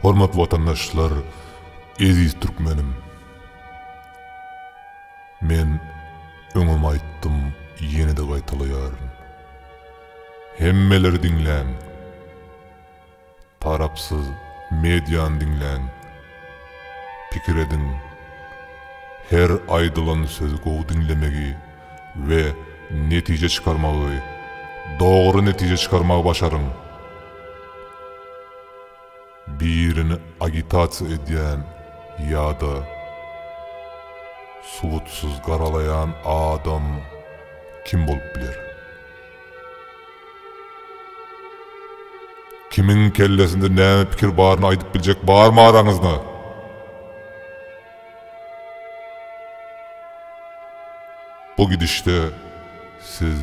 Hormatly watandaşlar, eziz türkmenim! Men öňem aýtdym, ýene-de gaýtalaýaryn. Hemmeler diňläň! Tarapsyz mediany diňläň, pikir ediň, her aýdylan sözi gowy diňlemegi we netije çykarmagy, dogry netije çykarmagy başaryň. Birini agitasiýa edýän ýa-da subutsyz garalaýan adam kim bolup biler? Kimiň kellesinde näme pikir baryny aýdyp biljek barmy araňyzda? Bu gidişde siz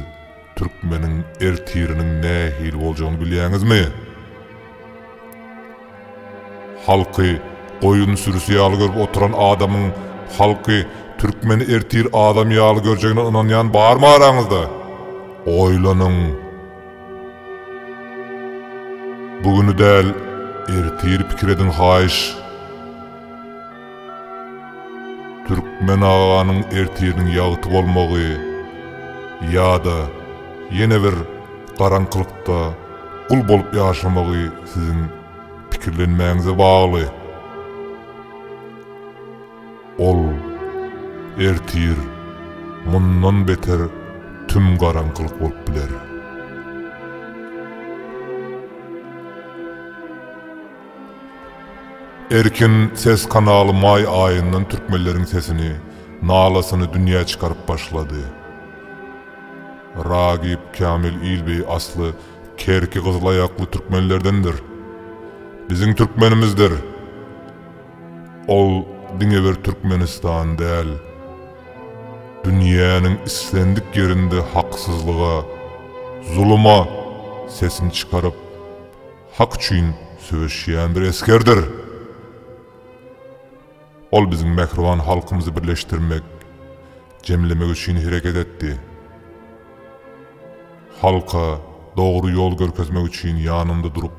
türkmeniň ertiriniň nähili boljagyny bilýäňizmi? Halky goýun sürüsi ýaly görüp oturan adamyň halky türkmeni ertir adam ýaly görjegine ynanýan barmy araňyzda? Oýlanyň! Bu güni däl, ertiri pikir ediň haýyş! Türkmen aganyň ertiriniň ýagty bolmagy ýa-da ýene bir garaňkylykda gul bolup ýaşamagy siziň pikirlenmäňize bagly. Ol ertir mundan beter tüm garaňkylyk bolup biler. Erkin ses kanaly maý aýyndan türkmenleriň sesini, nalasyny dünýä çykaryp başlady. Ragip Kamil Ilbeý asly Kerki gyzylaýakly türkmenlerdendir. Biziň türkmenimizdir. Ol diňe bir Türkmenistan däl, dünýäniň islendik ýerinde haksyzlyga, zuluma sesini çykaryp, Hak üçin söweşýän bir esgerdir. Ol biziň mähriban halkymyzy birleşdirmek, jemlemek üçin hereket etdi. Halka dogry ýol görkezmek üçin ýanynda durup,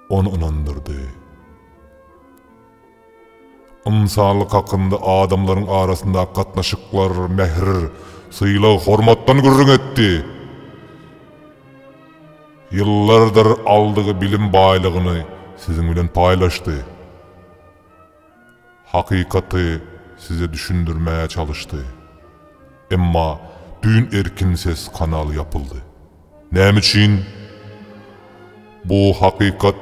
ony ynandyrdy. Ynsanlyk hakynda adamlaryň arasyndaky gatnaşyklar, mähir, sylag-hormatdan gürrüň etdi. Ýyllardyr aldygy bilim baýlygyny siziň bilen paýlaşdy. Hakykaty size düşündirmäge çalyşdy. Emma düýn Erkin ses kanaly ýapyldy. Näme üçin bu hakykat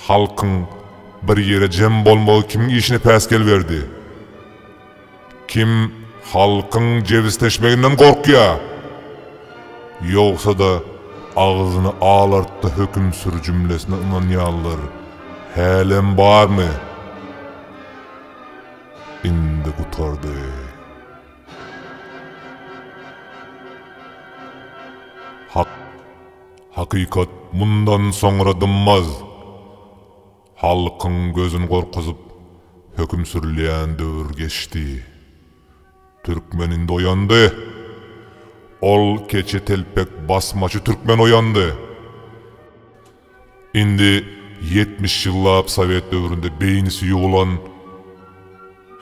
halkyň bir ýere jem bolmagy kimiň işine päsgel berdi? Kim halkyň jebisleşmeginden gorkýa? Ýogsa-da agzyny alartdy höküm sür jümlesine ynanýanlar hälem barmy? Indi gutardy. Hak, hakykat mundan soňra dymaz! Halkyň gözün gorkuzyp, höküm sürülýän döwür geçdi. Türkmen indi oýandy! Ol keçe telpek basmaçy türkmen oýandy! Indi ýetmiş ýyllap sowet döwründe beýnisi ýugulan,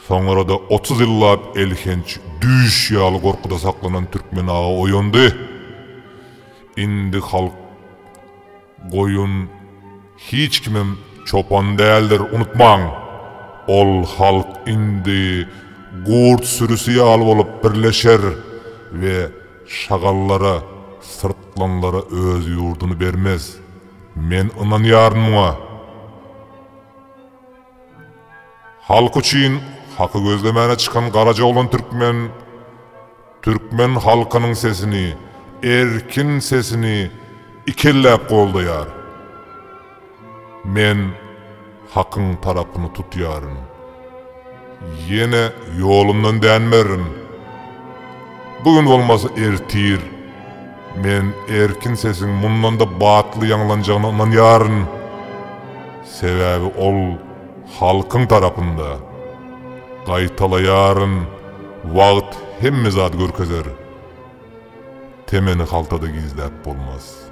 soňra-da otuz ýyllap elhenç düýş ýaly gorkuda saklanan türkmen aga oýandy. Indi halk goýun, hiç kimem çopan däldir, unutmaň! Ol halk indi gurt sürüsi ýaly bolup birleşer we Şagallara, syrtlanlara öz ýurduny bermez. Men ynanýaryn muňa. Halk üçin haky gözlemäne çykan garaja oglan türkmen, türkmen halkynyň sesini, erkin sesini ikelläp goldaýar. Men Hakyň tarapyny tutýaryn. Ýene ýolumdan dänmerin. Bu gün bolmasa ertir men erkin sesiň mundan-da batly ýaňlanjagyna ynanýaryn. Sebäbi ol halkyň tarapynda. Gaýtalaýaryn, wagt hemme zady görkezer. Temeni haltada gizläp bolmaz.